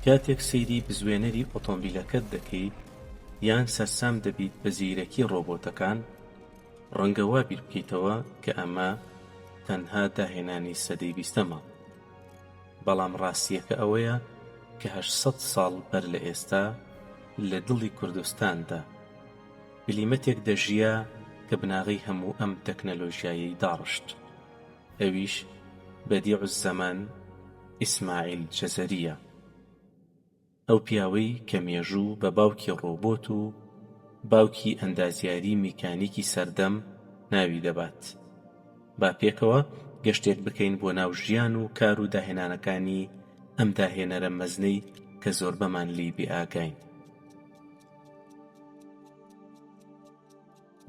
کاتێک سەیری بزوێنەری ئۆتۆمبیلەکەت دەکەیت یان سەرسام دەبیت بە زیرەکی ڕۆبۆتەکان، ڕەنگە وا بیر بکەیتەوە کە ئەمە تەنها داهێنانی سەدەی بیستەمە. بەڵام ڕاستییەکە ئەوەیە کە هەشت سەد ساڵ بەر لە ئێستا لە دڵی کوردستاندا بلیمەتێک دەژیا کە بناغەی هەموو ئەم تەکنەلۆژیایەی داڕشت. ئەویش بەدیع الزەمان ئیسماعیل جەزەرییە، ئەو پیاوەی کە مێژوو بە باوکی ڕۆبۆت و باوکی ئەندازیاری میکانیکی سەردەم ناوی دەبات. با پێکەوە گەشتێک بکەین بۆ ناو ژیان و کار و داهێنانەکانی ئەم داهێنەرە مەزنەی کە زۆربەمان لێی بێئاگاین.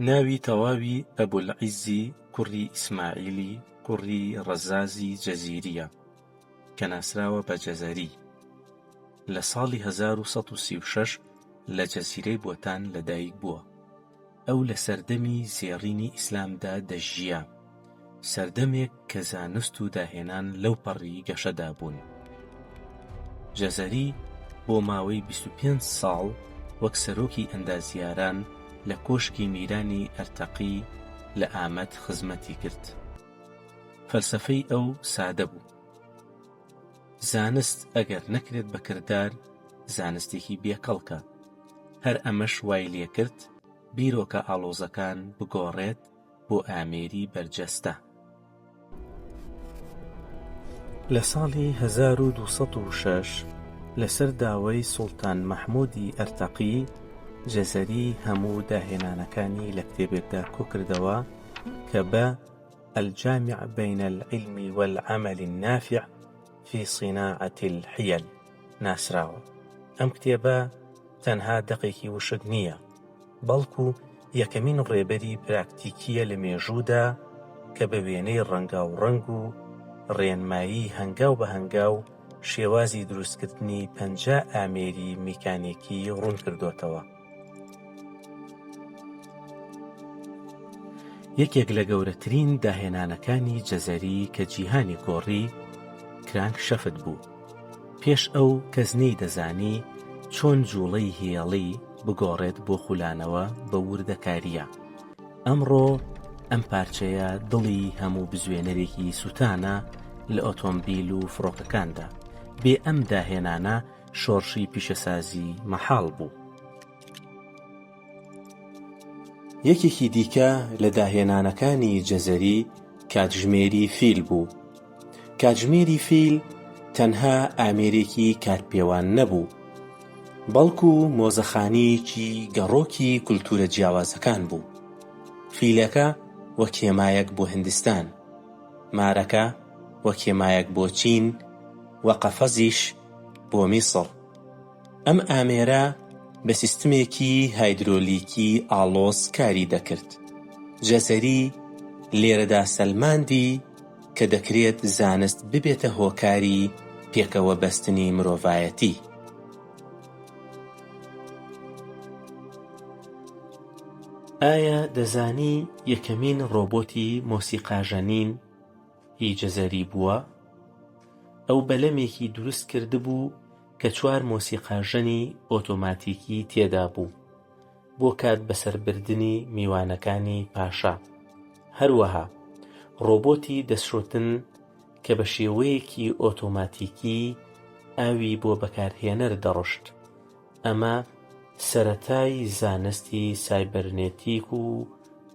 ناوی تەواوی ئەبولعیزی کوڕی ئیسماعیلی کوڕی ڕەزازی جەزیرییە کە ناسراوە بە جەزەری، لە ساڵی هەزار و سەد و سی و شەش لە جەزیرەی بۆتان لەدایکبووە. ئەو لە سەردەمی زێڕینی ئیسلامدا دەژیا. سەردەمێک کە زانست و داهێنان لەو پەڕی گەشەدا بوون جەزەری بۆ ماوەی 25 ساڵ وەک سەرۆکی ئەندازیاران لە کۆشکی میرانی ئەرتەقی لە ئامەد خزمەتی کرد فەلسەفەی ئەو سادە بوو زانست ئەگەر نەکرێت بە کردار زانستێکی بێکەڵکە هەر ئەمەش وای لێکرد بیرۆکە ئاڵۆزەکان بگۆڕێت بۆ ئامێری بەرجەستە. لە ساڵی هەزار و دوو سەد و شەش لەسەر داوای سوڵتان مەحموودی ئەرتەقی جەزەری هەموو داهێنانەکانی لە کتێبێکدا کۆکردەوە کە بە، الجامع بین العلم والعمل النافع فی صناعە الحیل، ناسراوە. ئەم کتێبە تەنها دەقێکی وشک نییە، بەڵکو یەکەمین ڕێبەری پراکتیکیە لە مێژوودا کە بە وێنەی ڕەنگاوڕەنگ و ڕێنمایی هەنگاو بە هەنگاو شێوازی دروستکردنی پەنجا ئامێری میکانیکی ڕوونکردۆتەوە. یەکێک لە گەورەترین داهێنانەکانی جەزەری کە جیهانی گۆڕی کرانک شەفت بوو پێش ئەو کەس نەی دەزانی چۆن جوڵەی هێڵی بگۆڕێت بۆ خولانەوە بە وردەکاریە ئەمڕۆ ئەم پارچەیە دڵی هەموو بزوێنەرێکی سووتانە لە ئۆتۆمبیل و فڕۆکەکاندا بێ ئەم داهێنانە شۆڕشی پیشەسازی مەحاڵ بوو. یەکێکی دیکە لە داهێنانەکانی جەزەری کاتژمێری فیل بوو. کاتژمێری فیل تەنها ئامێرێکی کاتپێوان نەبوو، بەڵکو مۆزەخانەیەکی گەڕۆکی کولتوورە جیاوازەکان بوو، فیلەکە وەک هێمایەک بۆ هندستان، مارەکە وەک هێمایەک بۆ چین و قەفەزیش، بۆ میسڕ. ئەم ئامێرە بە سیستمێکی هایدرۆلیکی ئاڵۆز کاری دەکرد. جەزەری لێرەدا سەلماندی کە دەکرێت زانست ببێتە هۆکاری پێکەوە بەستنی مرۆڤایەتی. ئایا دەزانی یەکەمین ڕۆبۆتی مۆسیقاژەنین، ی جزری بووە، ئەو بەلەمێکی دروست کردبوو کە چوار مۆسیقاژەنی ئۆتۆماتیکی تێدا بوو بۆ کات بەسەر بردنی میوانەکانی پاشا، هەروەها ڕۆبۆتی دەستشۆتن کە بە شێوەیەکی ئۆتۆماتیکی ئاوی بۆ بەکارهێنەر دەڕشت، ئەمە سەرەتای زانستی سایبەرنێتیک و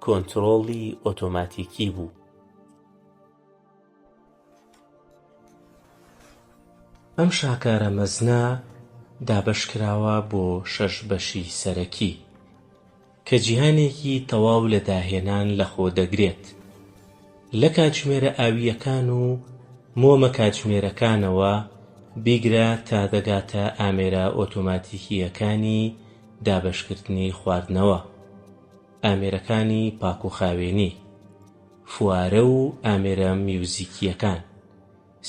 کۆنترۆڵی ئۆتۆماتیکی بوو. ئەم شاکارە مەزنە دابەشکراوە بۆ شەش بەشی سەرەکی کە جیهانێکی تەواو لە داهێنان لەخۆ دەگرێت لە کاتژمێرە ئاوییەکان و مۆمە کاتژمێرەکانەوە بیگرە تا دەگاتە ئامێرە ئۆتۆماتیکییەکانی دابەشکردنی خواردنەوە ئامێرەکانی پاکوخاوێنی، فوارە و ئامێرە میوزیکییەکان،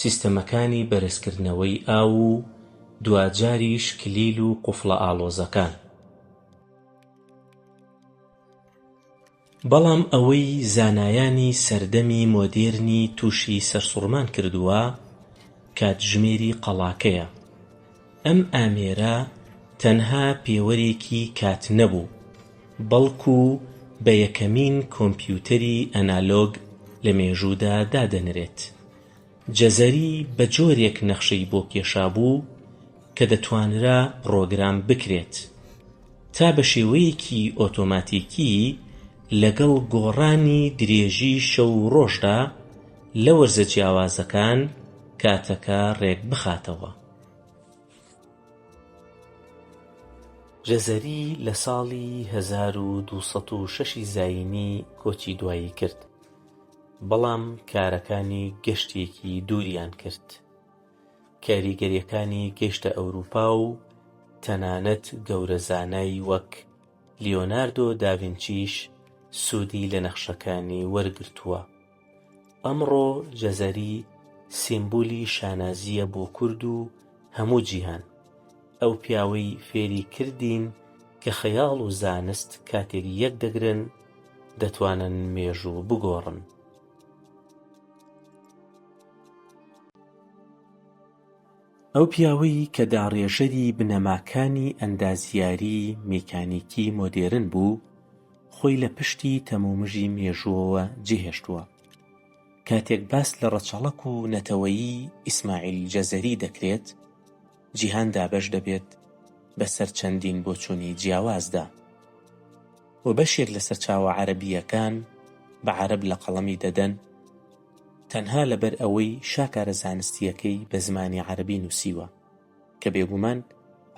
سیستەمەکانی بەرزکردنەوەی ئاو و دواجاریش کلیل و قوفڵە ئاڵۆزەکان. بەڵام ئەوەی زانایانی سەردەمی مۆدێرنی تووشی سەرسوڕمان کردووە کاتژمێری قەڵاکەیە. ئەم ئامێرە تەنها پێوەرێکی کات نەبوو، بەڵکو بە یەکەمین کۆمپیوتەری ئەنالۆگ لە مێژوودا دادەنرێت. جەزەری بە جۆرێک نەخشەی بۆ کێشابوو کە دەتوانرا پڕۆگرام بکرێت تا بە شێوەیەکی ئۆتۆماتیکی لەگەڵ گۆڕانی درێژی شەو و ڕۆژدا لە وەرزە جیاوازەکان کاتەکە ڕێکبخاتەوە. جەزەری لە ساڵی هەزار و دوو سەد و شەش ی زایینی کۆچی دوایی کرد، بەڵام کارەکانی گەشتێکی دووریان کرد. کاریگەرییەکانی گەیشتە ئەورووپا و تەنانەت گەورە زانای وەک لیۆناردۆ داڤینچیش سوودی لە نەخشەکانی وەرگرتووە. ئەمڕۆ جەزەری سیمبولی شانازییە بۆ کورد و هەموو جیهان. ئەو پیاوەی فێری کردین کە خەیاڵ و زانست کاتێک یەک دەگرن دەتوانن مێژوو بگۆڕن. ئەو پیاوەی کە داڕێژەری بنەماکانی ئەندازیاریی میکانیکی مۆدێرن بوو، خۆی لە پشتی تەمومژی مێژووەوە جێهێشتووە. کاتێک باس لە ڕەچەڵەک و نەتەوەیی ئیسماعیل جەزەری دەکرێت، جیهان دابەش دەبێت بەسەر چەندین بۆچوونی جیاوازدا و بەشێک لە سەرچاوە عەرەبییەکان بە عەرەب لە قەڵەمی دەدەن، تەنها لەبەر ئەوەی شاکارە زانستییەکەی بە زمانی عەرەبی نووسیوە، کە بێگومان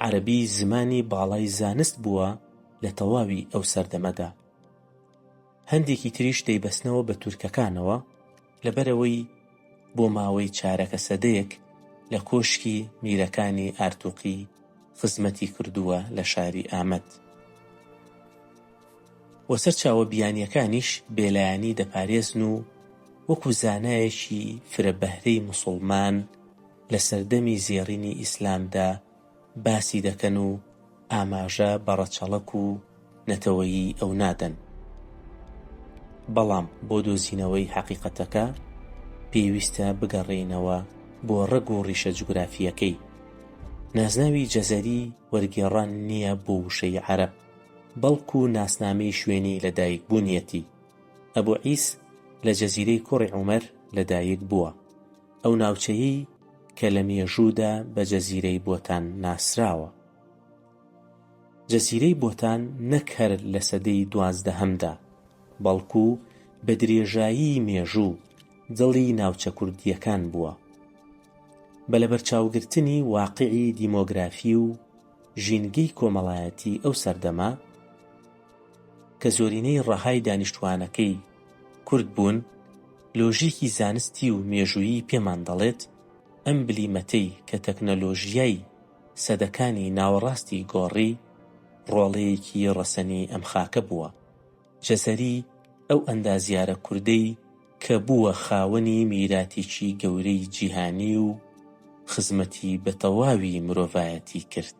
عەرەبی زمانی باڵای زانست بووە لە تەواوی ئەو سەردەمەدا. هەندێکی تریش دەیبەستنەوە بە تورکەکانەوە، لەبەرئەوەی بۆ ماوەی چارەکە سەدەیەک لە کۆشکی میرەکانی ئارتوقی خزمەتی کردووە لە شاری ئامەد. و سەرچاوە بیانییەکانیش بێلایەنی دەپارێزن و وەکو زانایەکی فرە بەهرەی موسوڵمان لە سەردەمی زێڕینی ئیسلامدا باسی دەکەن و ئاماژە بە ڕەچەڵەک و نەتەوەیی ئەو نادەن. بەڵام بۆ دۆزینەوەی حەقیقەتەکە پێویستە بگەڕێینەوە بۆ ڕەگ و ڕیشە جوگرافییەکەی. نازناوی جەزەری وەرگێڕان نییە بۆ وشەی عەرەب، بەڵکو ناسنامەی شوێنی لە دایک بونیەتی، ئەبو عیس لە جەزیرەی کوڕی عومەر لە دایک بووە، ئەو ناوچەیەی کە لە مێژوودا بە جەزیرەی بۆتان ناسراوە. جەزیرەی بۆتان نەک هەر لە سەدەی دوازدەهەمدا، بەڵکو بە درێژایی مێژوو دڵی ناوچە کوردییەکان بووە. بە لەبەرچاوگرتنی واقعی دیمۆگرافی و، ژینگەی کۆمەڵایەتی ئەو سەردەمە کە زۆرینەی ڕەهای دانیشتووانەکەی کورد بوون، لۆژیکی زانستی و مێژوویی پێمان دەڵێت ئەم بلیمەتەی کە تەکنەلۆژیای سەدەکانی ناوەڕاستی گۆڕی، ڕۆڵەیەکی ڕەسەنی ئەم خاکە بووە. جەزەری ئەو ئەندازیارە کوردەی کە بووە خاوەنی میراتێکی گەورەی جیهانی و خزمەتی بە تەواوی مرۆڤایەتی کرد.